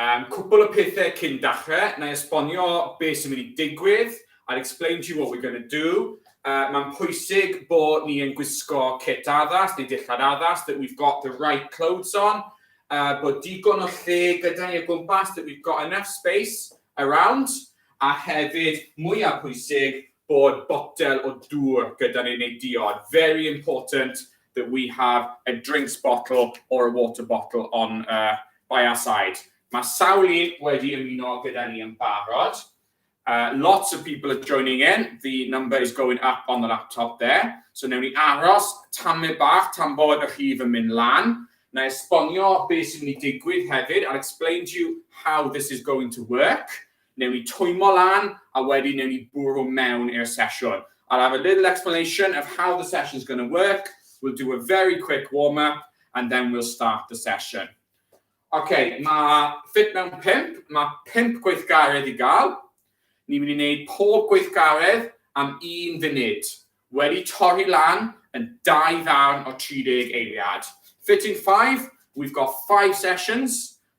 Yym, cwpwl o pethe cyn dachre, na'i esbonio be sy'n mynd i digwydd, I'll explain to you what we're going to do, yy mae'n pwysig bo ni yn gwisgo cit addas neu dillad addas, that we've got the right clothes on, yy bod digon o lle gyda ni o gwmpas, that we've got enough space around, a hefyd, mwya pwysig, bod botel o dŵr gyda ni neu diod, very important that we have a drinks bottle or a water bottle on uh, by our side. Mae sawl un wedi ymuno gyda ni yn barod. Uh, lots of people are joining in. The number is going up on the laptop there. So newn ni aros tamed bach tan bod y rhif yn mynd lan. Na esbonio beth sy'n mynd i digwydd hefyd. I'll explain to you how this is going to work. Newn ni twymmo lan a wedyn newn ni bwrw mewn i'r sesiwn. I'll have a little explanation of how the session's going to work, we'll do a very quick warm up and then we'll start the session. Ok, mae Fit Mewn Pump, mae pump gweithgaredd i gael. Ni'n mynd i wneud pob gweithgaredd am un funud, wedi torri lan yn dau ddarn o 30 eiliad. Fitting 5, we've got five sessions,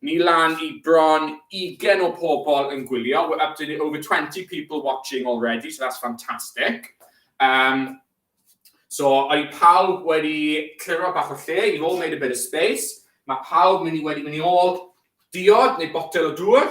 Ni lan i bron 20 o pobl yn gwylio, we're up to the over 20 people watching already, so that's fantastic. Um, so, i pawb wedi cliro bach o lle, you've all made a bit of space, mae pawb mynd i wedi mynd i ôl diod neu botel o dŵr.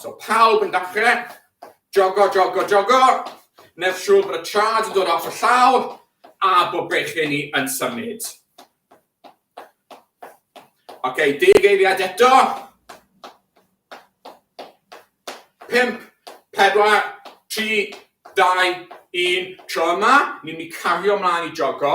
So pawb yn dachre, jogo, jogo, jogo, nef siŵr bod y trad yn dod off y llaw a bod bechyn ni yn symud. Oce, okay, deg eiliad eto. Pimp, pedwar, tri, dau, un. Tro yma, ni'n mynd i cario mlaen i jogo.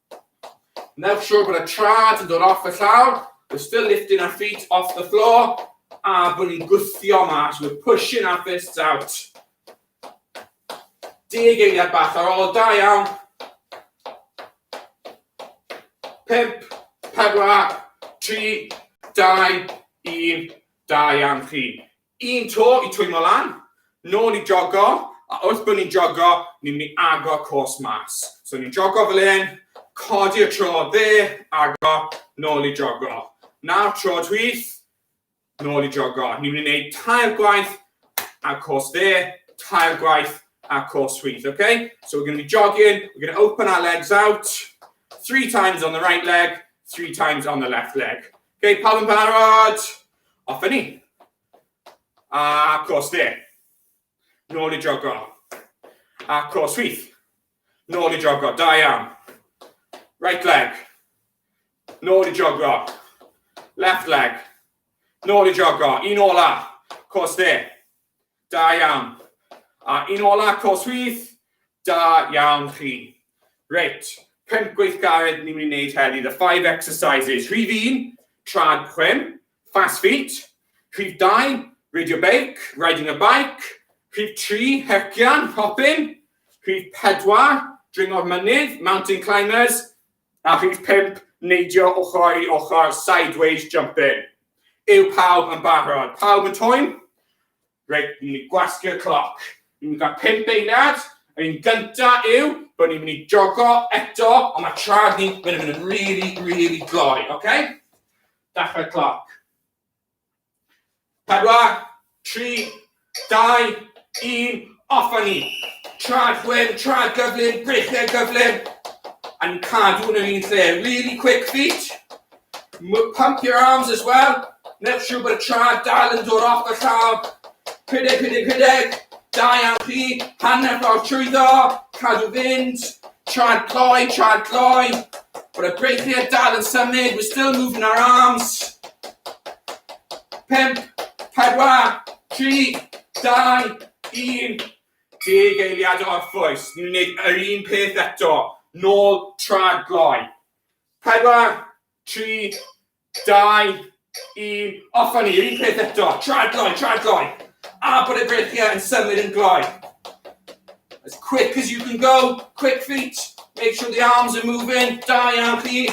Make sure bod y traed yn dod off y llawr, we're still lifting our feet off the floor, a bod ni'n gwthio mas, we're pushing our fists out. Deg eiliad bach ar ôl, da iawn. Pimp, pedwar, tri, dau, un, da iawn chi. Un to i twymo lan, nôl i jogo, a wrth bod ni'n jogo, ni'n mynd i agor cos mas. So ni'n jogo fel hyn, codi y tro dde, agor, nôl i jogo. Nawr tro chwith, nôl i jogo. Ni'n mynd i wneud tair gwaith a cos dde, tair gwaith a cos chwith, okay? So we're going to be jogging, we're going to open our legs out, three times on the right leg, three times on the left leg. Okay, pawb yn barod? Off â ni. A cwrs dde. Nôl i jogo. A cwrs chwith. Nôl i jogo. Da iawn. Right leg. Nôl i jogo. Left leg. Nôl i jogo. Un ola. Cwrs dde. Da iawn. A un ola cos with. Da iawn chi. Reit, pump gweithgaredd ni'n mynd i wneud heddi, the five exercises. Rhif un, trad chwim, fast feet. Rhif dau, radio beic, riding a bike. Rhif tri, hercian, hopping. Rhif pedwar, dringo'r mynydd, mountain climbers. A rhif pump, neidio ochr i ochr, sideways jumping. Yw pawb yn barod? Pawb yn twyn? Reit, ni'n mynd i gwasgu'r cloc. Ni'n mynd i gael pump eiliad. Yr un gynta yw bod ni'n mynd i jogo eto, ond mae trad ni'n mynd yn really, really gloi, oce? Okay? Dachrau cloc. Pedwar, tri, dau, un, off a ni! Traed chwim, traed gyflym, breched gyflym, a ni'n cadw yn yr un lle. Really quick feet, pump your arms as well, newch siŵr bod y traed dal yn dod off y llawr. Rhedeg, rhedeg, rhedeg, da iawn chi, hanner ffordd trwyddo, cadw fynd, Tra'n cloi, tra'n cloi. But a break here, dal yn symud, we're still moving our arms. Pimp, pedwar, tri, dau, un. Deg eiliad o orffwys, ni'n gwneud yr un peth eto. Nôl, tra'n cloi. Pedwar, tri, Dau, un, off â ni, yr un peth eto, traed gloi, traed gloi. A bod y breichiau yn symud yn gloi. As quick as you can go, quick feet, make sure the arms are moving, da iawn chi.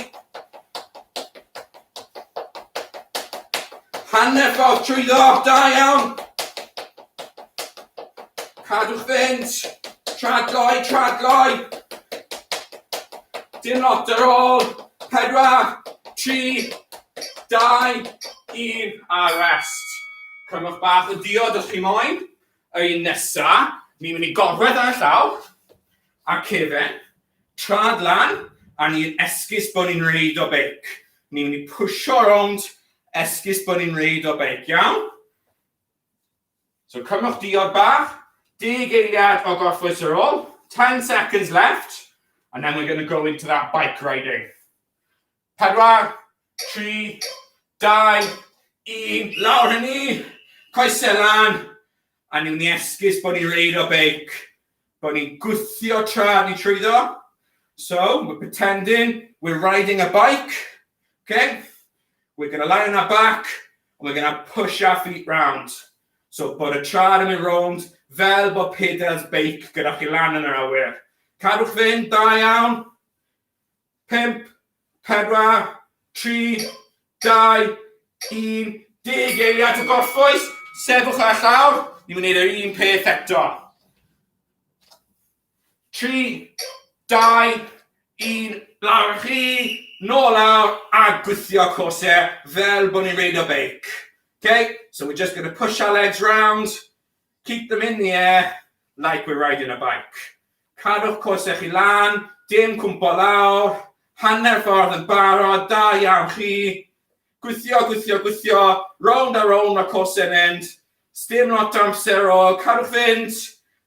Hanner ffordd trwyddo, da iawn. Cadwch fynd! Tragoi, tragoi! Dim lot ar ôl! Pedwar, tri, dau, un, a rest. Cymwch bach o diod os chi moyn. Y un nesa, ni'n mynd i gorwedd ar y llaw, a'r cefen, trad lan, a ni'n esgus bod ni'n reid o beic. Ni'n mynd i pwysio rownd, esgus bod ni'n reid o beic, iawn? So cymwch diod bach, deg eiliad o gorffwys ar ôl, 10 seconds left, and then we're going to go into that bike riding. Pedwar, tri, dau, un, lawr hynny, ni, coesau lan, a ni'n ni esgus bod ni'n reid o beic, bod ni'n gwthio tra ni trwyddo. So, we're pretending we're riding a bike, okay? We're going to lie on our back, We're going to push our feet round. So bod y trad yn mynd rownd fel bod pedals beic gyda chi lan yn yr awyr. Cadwch fynd, da iawn. 5, 4, 3, 2, 1, dig eiliad o gorffwys. Sefwch ar y llawr. Ni'n mynd i'r un peth eto. tri, dau, un, lawr a chi, nôl lawr a gwthio corset fel bod ni'n reidio beic. Okay, so we're just going to push our legs round, keep them in the air like we're riding a bike. Cadwch corset chi lan, dim cwmpo lawr, hanner ffordd yn barod, da iawn chi. Gwthio, gwthio, gwthio, round a round mae corset yn mynd. Sdim lot o amser o, cadwch fynd,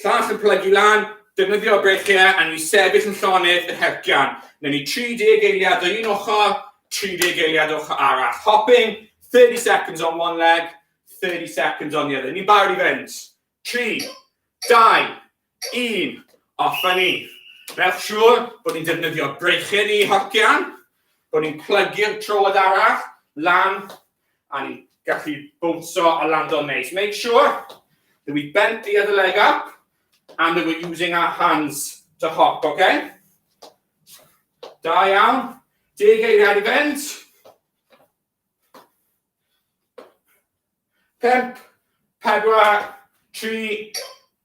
Llall yn plygu lan, defnyddio breichiau a ni'n sefyll yn llonydd yn hercian. Newn ni 30 eiliad o un ochr, 30 eiliad o ochr arall. Hopping, 30 seconds on one leg, 30 seconds on the other. Ni'n barod i fynd. 3, 2, 1, off a ni. Newch siŵr bod ni'n defnyddio breichiau ni hercian, bod ni'n plygu'r troed arall lan A ni'n gallu bownsio a lando'n neis. Make sure that we bent the other leg up and that we're using our hands to hop, okay? Da iawn. Deg eiriau i fynd. Pimp, pedwar, tri,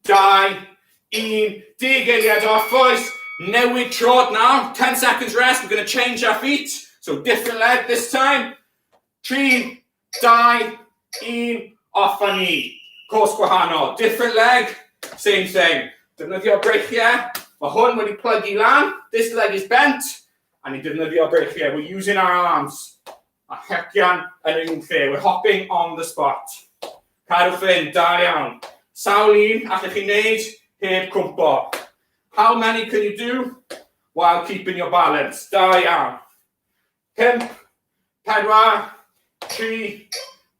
dau, un. Deg eiriau doff, boys. Newid trod nawr. 10 seconds rest. We're going to change our feet. So different leg this time. 3, 2, 1, off a ni. Cwrs gwahanol, different leg, same thing. Defnyddio breichiau, mae hwn wedi plygu lan, this leg is bent, a ni'n defnyddio breichiau, we're using our arms. A hecian yn yr un lle, we're hopping on the spot. Cadwch fynd, da iawn. Sawl un allwch chi wneud heb cwmpo? How many can you do while keeping your balance? Da iawn. Pump, pedwar, tri,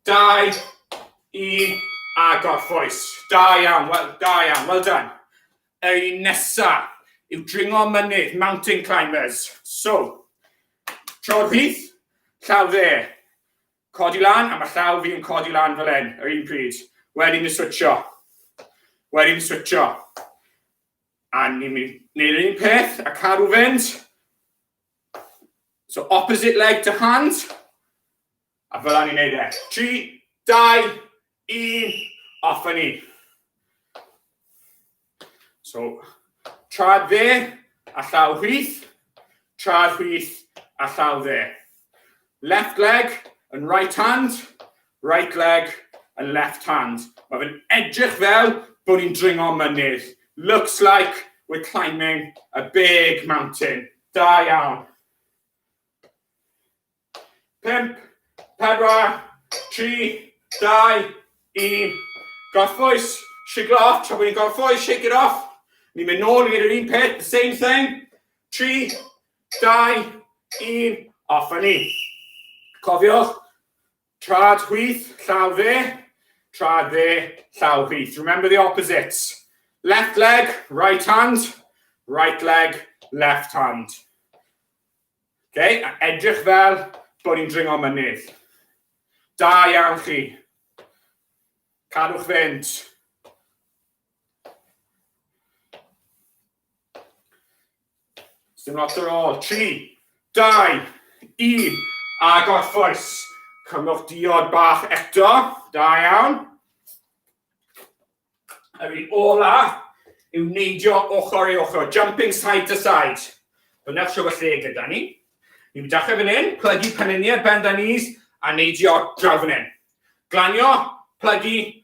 dau, un, a gorffwys. Da iawn, wel, da iawn, well done. Ei nesa yw dringo mynydd, mountain climbers. So, tro rhydd, llaw dde. Codi lan, a mae llaw fi yn codi lan fel hyn, yr un pryd. Wedyn ni switcho. Wedyn ni switcho. A ni'n mynd neu'r un peth, a cadw fynd. So opposite leg to hand. A fel ni'n neud e. 3, 2, 1, off a ni. So, trad dde, a llaw hwyth, trad hwyth, a llaw dde. Left leg and right hand, right leg and left hand. Mae fe'n edrych fel bod ni'n dringo mynydd. Looks like we're climbing a big mountain. Da iawn. Pump, pedwar, tri, dau, un. Gorffwys, shiglo off, tra bod ni'n gorffwys, shake it off. Ni'n mynd nôl i wneud yr un peth, the same thing. Tri, 2, 1, a ffynnu. Cofiwch, trad chwith, llaw fe, trad fe, llaw chwith. Remember the opposites. Left leg, right hand, right leg, left hand. Okay, a edrych fel bod ni'n dringo mynydd. Da iawn chi. Cadwch fynd. Dim lot ar ôl. 3, 2, 1, a gorffwys. Cymwch diod bach eto. Da iawn. Yr un ola yw neidio ochr i ochr, jumping side to side. Dyna'r siw y lle gyda ni. Ni'n dechrau fan hyn, plygu peniniau, bend the knees, a neidio draw fan hyn. Glanio, plygu,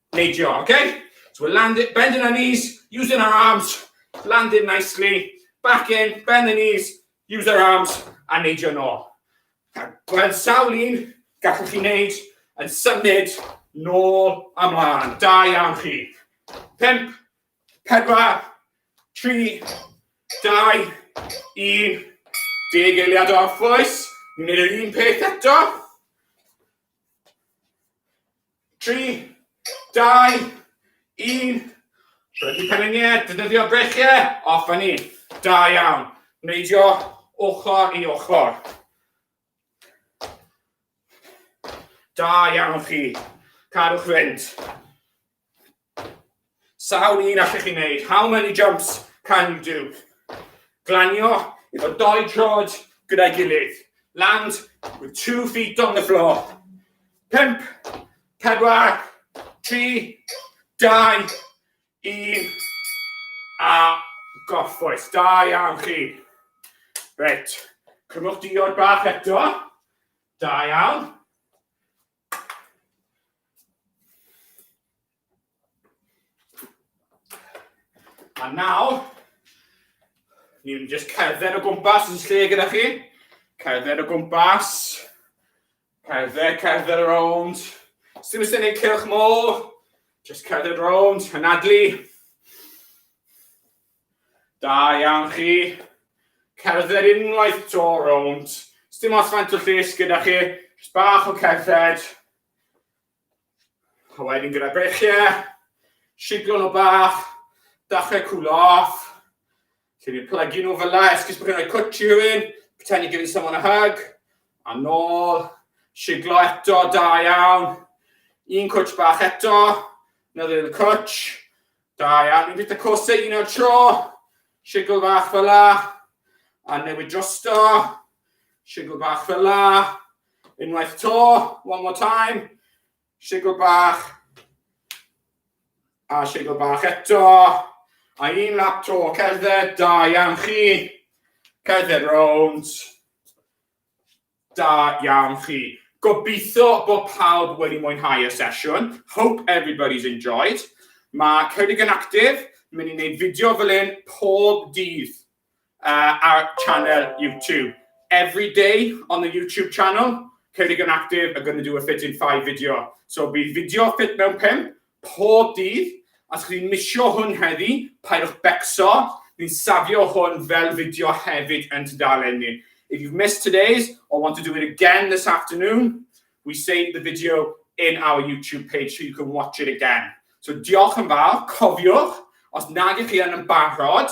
neidio, okay? So we're landing, bending our knees, using our arms, landing nicely, back in, bend the knees, use our arms, a neidio nôl. Gweld sawl un gallwch chi wneud yn symud nôl a mlaen. Da iawn chi. Pimp, pedwar, tri, dau, un. Deg eiliad o orffwys. Ni'n gwneud yr un peth eto. Tri, dau, un. Rhedeg penyngiau, defnyddio breichiau, off a ni. Da iawn. Neidio ochr i ochr. Da iawn chi. Cadwch fynd. Sawl un allech chi wneud? How many jumps can you do? Glanio efo dou trod gyda'i gilydd. Land with two feet on the floor. Pump, pedwar, tri, dau, un, a gorffwys. Da iawn chi. Reit, cymwch diod bach eto. Da iawn. A nawr, ni'n just cerdded o gwmpas yn lle gyda chi. Cerdded o gwmpas. Cerdded, cerdded around. Sdim ysyn ei cylch môl. Just cerdded around, hynadlu. Da iawn chi. Cerdded unwaith to rownd. Sdim os faint o lles gyda chi. Just bach o cerdded. A wedyn gyda brechiau. Siglo nhw bach. Dachrau cwlo off. Lle ni'n plygu nhw fel la. Esgus bod chi'n rhoi cwt i rhywun. Pretend you're giving someone a hug. A nôl. Siglo eto. Da iawn. Un cwt bach eto. Another little cwt. Da iawn, ni'n bita coseg un o'r tro, sigl fach fel la, a newid drosto, sigl bach fel la, unwaith to, one more time, sigl bach, a sigl bach eto, a un lap to, cerdded, da iawn chi, cerdded rownd, Da iawn chi. Gobeithio bod pawb wedi mwynhau y sesiwn. Hope everybody's enjoyed. Mae Ceredig yn Actif yn mynd i wneud fideo fel un pob dydd uh, ar channel YouTube. Every day on the YouTube channel, Ceredig yn Actif are going to do a fit in 5 video. So bydd fideo fit mewn 5 pob dydd, a os chi'n misio hwn heddi, paidiwch becso, ni'n safio hwn fel fideo hefyd yn tudalen ni. If you've missed today's or want to do it again this afternoon, we save the video in our YouTube page so you can watch it again. So diolch yn fawr, cofiwch, os nad ych chi yn yn barod,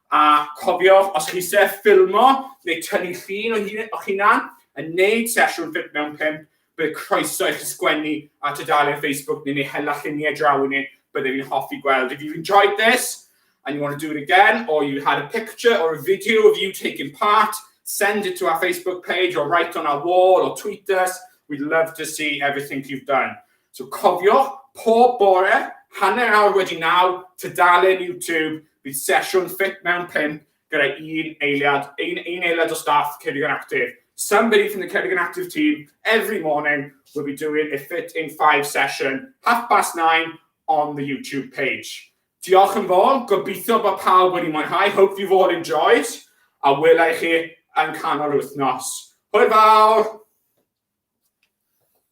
A cofiwch, os chi eisiau ffilmo neu tynnu llun o'ch hunan yn gwneud sesiwn ffit mewn pump, bydd croeso i chi sgwennu ar tudalen Facebook neu neu hela lluniau draw i ni, byddwn ni'n hoffi gweld. If you've enjoyed this and you want to do it again or you had a picture or a video of you taking part, send it to our Facebook page or write on our wall or tweet us, we'd love to see everything you've done. So cofiwch, pob bore, hanner awr wedi naw, tudalen YouTube, bydd sesiwn ffit mewn pump gyda un eiliad, un, un eiliad o staff Ceredigion Active. Somebody from the Ceredigion Active team every morning will be doing a fit in five session, half past nine on the YouTube page. Diolch yn fawr, gobeithio bod pawb wedi mwynhau, hope you've all enjoyed, a wela i chi yn canol wythnos. Hwyl fawr!